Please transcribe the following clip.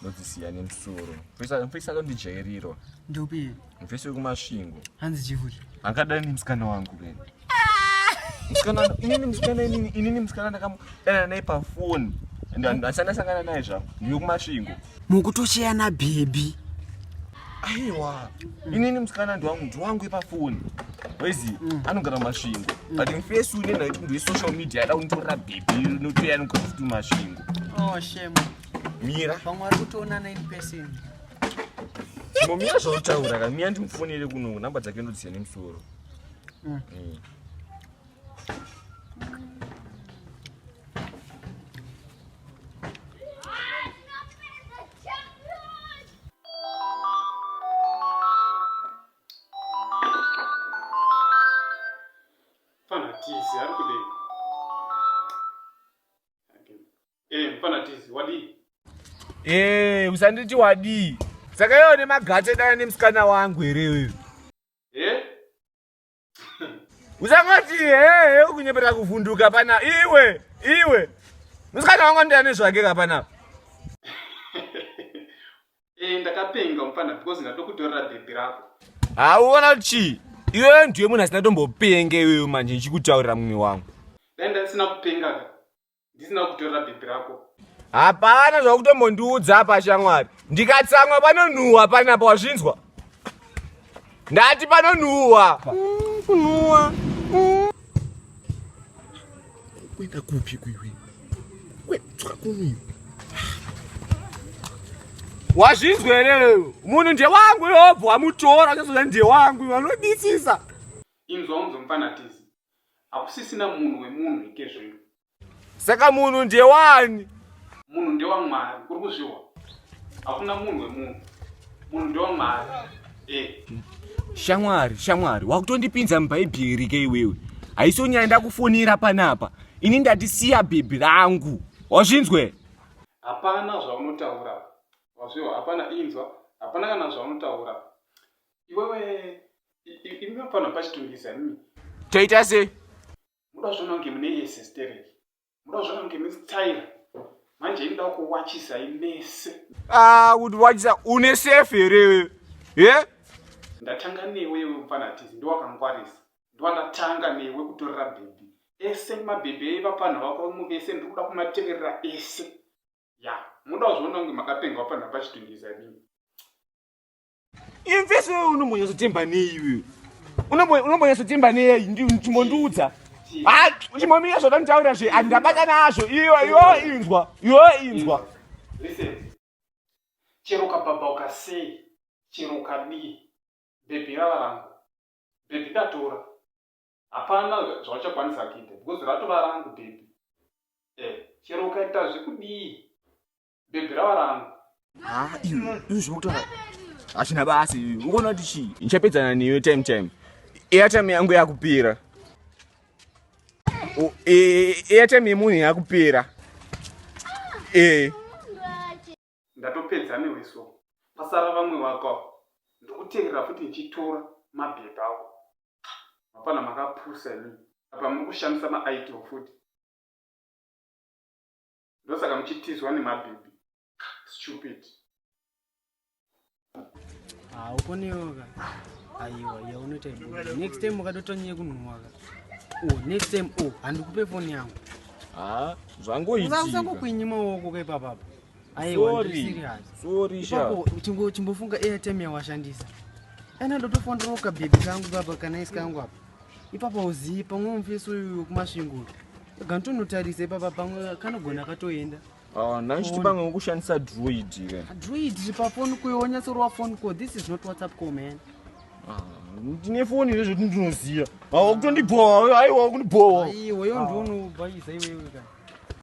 ndodzisiya nemsoro mfesi akandijairirwa ndopi mfesi wekumasvingo hanzi chivuri angadai nemsikana wangu vene inini musikana inini inini musikana ndakamudanana naye pafoni and asandasangana naye zvavo ndiyo kumasvingo mukutocheyana bhebhi aiwa inini musikana ndiwangu ndiwangu ipafoni wezi mm. anogara masvingo mm. but mfesi unenhaiti munhu wesocial media ada kunitorera bhebhi notoya anogara futi masvingo oh, mira pamwe vari kutoonana in person momira zvautaura ka miya ndimufonere kuno namba dzake ndodziya nemusoro mm. mm. Eh, mfana tizi, wadii? Eh, usanditi wadii. Saka iwe une magate dana nemusikana wangu here iwewe? Eh? Usangoti eh, eh ukunyepera kuvhunduka pana iwe, iwe. Musikana wangu ndiye ane zvake ka pana. Eh, ndakapenga mfana because ndatoda kutorera baby rako. Ah, uona kuti chii? Iwe ndiye munhu asina tombopenga iwewe manje ndichikutaurira mumwe wangu. Dai ndasina kupenga ka. ndisina kutorera bhebhi rako hapana zvakutombondiudza apa shamwari ndikatsamwa panonhuhwa panapa wazvinzwa ndati panonhuhwa mm, kunhuhwa mm. kuenda kupi kuiwe kwedzoka kumiwe wazvinzwa here munhu ndewangu yobva wamutora chazoda ndewangu vanodisisa inzwa unzomfanatizi Hakusisina munhu wemunhu ike zvinhu. Saka munhu ndewani? Munhu ndewamwari, uri kuzvihwa? Hakuna munhu wemunhu. Munhu ndewamwari. Eh. Shamwari, shamwari, wakutondipinza mubhaibheri ke iwewe. Haisonyaya ndakufonera panapa. Ini ndati siya bhebhi rangu. Wazvinzwe? Hapana zvaunotaura. Wazvihwa? Hapana inzwa. Hapana kana zvaunotaura. iwewe iminofanira pachitungisa mimi toita sei muda zvona kunge mune yese sterek muda zvona kunge misitaira manje inoda kuwachisa imese ah, kuti wachisa une sefe here ye ndatanga newe iwe mfana tizi ndiwakangwarisa ndiwandatanga newe kutorera bhebhi ese mabhebhi aiva panhu vako muvese ndiri kuda kumateverera ese ya muda kuzviona kunge makapengwa panhu pachitungisa mimi imfeso iwe unombonyatsotemba nei iwe unombonyatsotemba nei ndimbondiudza ha chimbomira zvoda nditaura zve andabata nazvo iwe yo inzwa yo inzwa chero ukabhabha ukasei chero ukadii bhebhi rava rangu bhebhi ndatora hapana zvauchakwanisa kuita because ratova rangu bhebhi eh, chero ukaita zvekudii bhebhi rava rangu haa ah, iwe izvo zvokutaura hazvina basi ukuona kuti chii ndichapedzana newe time time airtime yangu yakupera airtime yemunhu yakupera ee ndatopedza newe so pasara vamwe vako ndokuterera futi ndichitora mabhebha awo mapana makapusa ini apa muri kushandisa maitl futi ndosaka muchitizwa nemabhibi stupid ah, ukoneoka aiwa yaunoita ibuda next time ukatotonyeye kunhuwaka o oh, next time o oh, handikupe foni yangu ah, zvangoiusakukwinyi maoko kaipapapa aiwachimbofungga airtime yawashandisa ana ndotofonderoka bhebhi kangu baba kana isi kangu apa ipapo uzivi pamwe mufesi uyu kumasvingo ganotonotarisa ipapa pamwe kanogona akatoenda ah, naichiti pamwe wekushandisa druid druid pafoni kuyo wonyatsorova foni ko this is not whatsapp co man ah, ndine foni izvo zvoti ndinoziva ah, wakutondibhowa aiwa wakundibhowa iweyo ndiunobhayisa iwewe ka